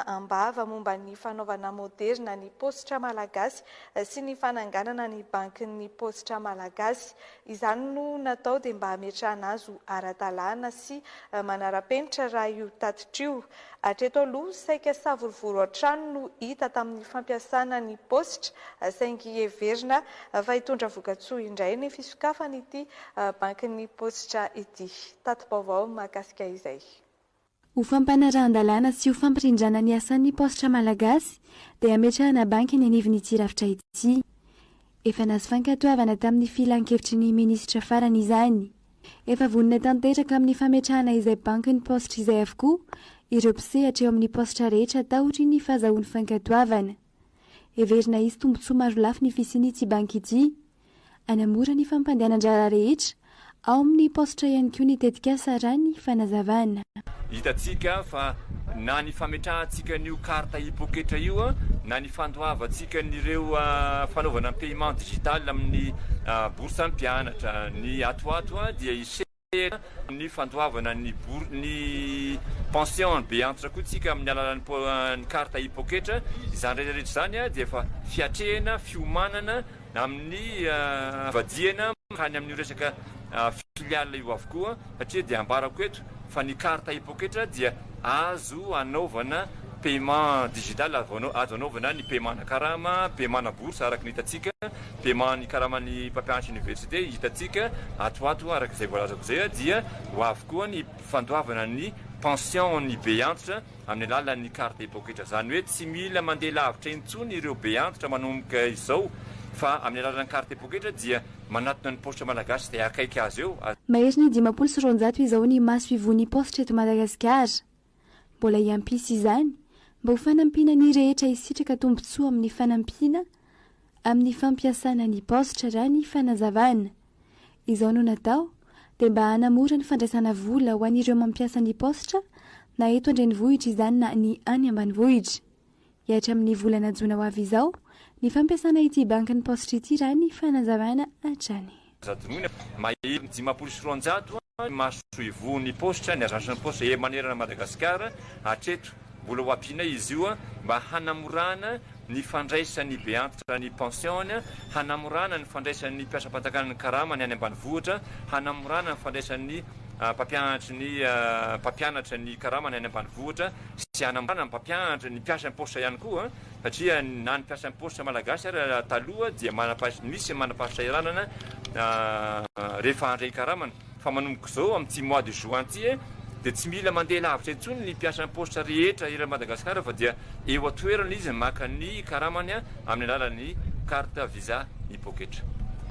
am-bava momba ny fanaovana moderina ny paositra malagasy sy ny fananganana ny bankin'ny paositra malagasy. Izany no natao dia mba hametrahana azy ho ara-dalàna sy manara-penitra raha io tatitra io. Hatreto aloha, saika savorovoro hatrany no hita tamin'ny fampiasana ny paositra saingy heverina fa hitondra vokatsoa indray ny fisokafan'ity bankin'ny paositra ity. Tati-baovao mahakasika izay. Ho fampanarahan-dalàna sy ho fampirindrana ny asan'ny paositra malagasy dia hametrahana banky eny anivon'ity rafitra ity. Efa nahazo fankatoavana tamin'ny filan-kevitry ny minisitra farany izany. Efa vonona tanteraka amin'ny fametrahana izay bankin'ny paositra izay avokoa ireo mpisehatra eo amin'ny paositra rehetra taorian'ny fahazahoany fankatoavana. Heverina hisy tombontsoa marolafy ny fisian'ity banky ity. Hanamora ny fampandehanan-draharaha rehetra. Ao amin'ny paositra ihany koa ny tetikasa, raha ny fanazavana. Hitantsika fa na ny fametrahantsika an'io carte e-poketra io na ny fandoavantsika an'ireo fanaovana paiement digital amin'ny bourse an'ny mpianatra, ny ato ho ato dia hiseho. Manantena ny fandoavana ny bour ny pension be antitra koa tsika amin'ny alalan'ny po ny carte i poketra. Izany rehetra rehetra izany dia efa fiatrehana, fiomanana amin'ny vadiana mankany amin'io resaka filiale io avokoa satria dia ambarako eto fa ny carte i poketra dia. Azo anaovana paiement digital, azo anaovana ny paiement ana karama, paiement ana bourse araka ny hitantsika, paiement ny karaman'ny mpampianatra université hitantsika ato ato araka izay voalazako izay dia ho avy koa ny fandoavana ny pension an'ny be antitra amin'ny alalan'ny carte de poketra izany hoe tsy mila mandeha lavitra intsony ireo be antitra manomboka izao fa amin'ny alalan'ny carte de poketra dia Manatona ny paositra malagasy dia akaiky azy eo. Mahery ny dimampolo sy roanjato izao ny maso ivohon'ny paositra eto Madagasikara. Mbola hiampisa izany mba ho fanampiana ny rehetra hisitraka tombontsoa amin'ny fanampiana amin'ny fampiasana ny paositra raha ny fanazavana. Izao no natao dia mba hanamora ny fandraisana vola ho an'ireo mampiasa ny paositra na eto an-drenivohitra izany na ny any ambanivohitra. dia hatramin'ny volana jona ho avy izao ny fampiasana ity bankin'ny paositra ity raha ny fanazavana hatrany. Zadorona, mahery dimampolo sy roanjato ny masoivohon'ny paositra, ny agences de poste, ery manerana an'i Madagasikara. Hatreto, mbola ho ampianay izy io mba hanamorana ny fandraisan'ny beantitra ny pension-ny, hanamorana ny fandraisan'ny mpiasam-panjakana ny karama ny any ambanivohitra, hanamorana ny fandraisan'ny mpampianatry ny mpampianatra ny karama ny any ambanivohitra. sy hanambana ny mpampianatra, ny mpiasa am-paositra ihany koa satria na ny mpiasa am-paositra malagasy ary taloha dia manam-pahaizana, misy manam-pahasahiranana rehefa handray ny karamany fa manomboka izao amin'ity mois de juin ity dia tsy mila mandeha lavitra intsony ny mpiasa am-paositra rehetra eran'i Madagasikara fa dia eo an-toerana izy maka ny karamany amin'ny alalan'ny carte visa mi-pocket.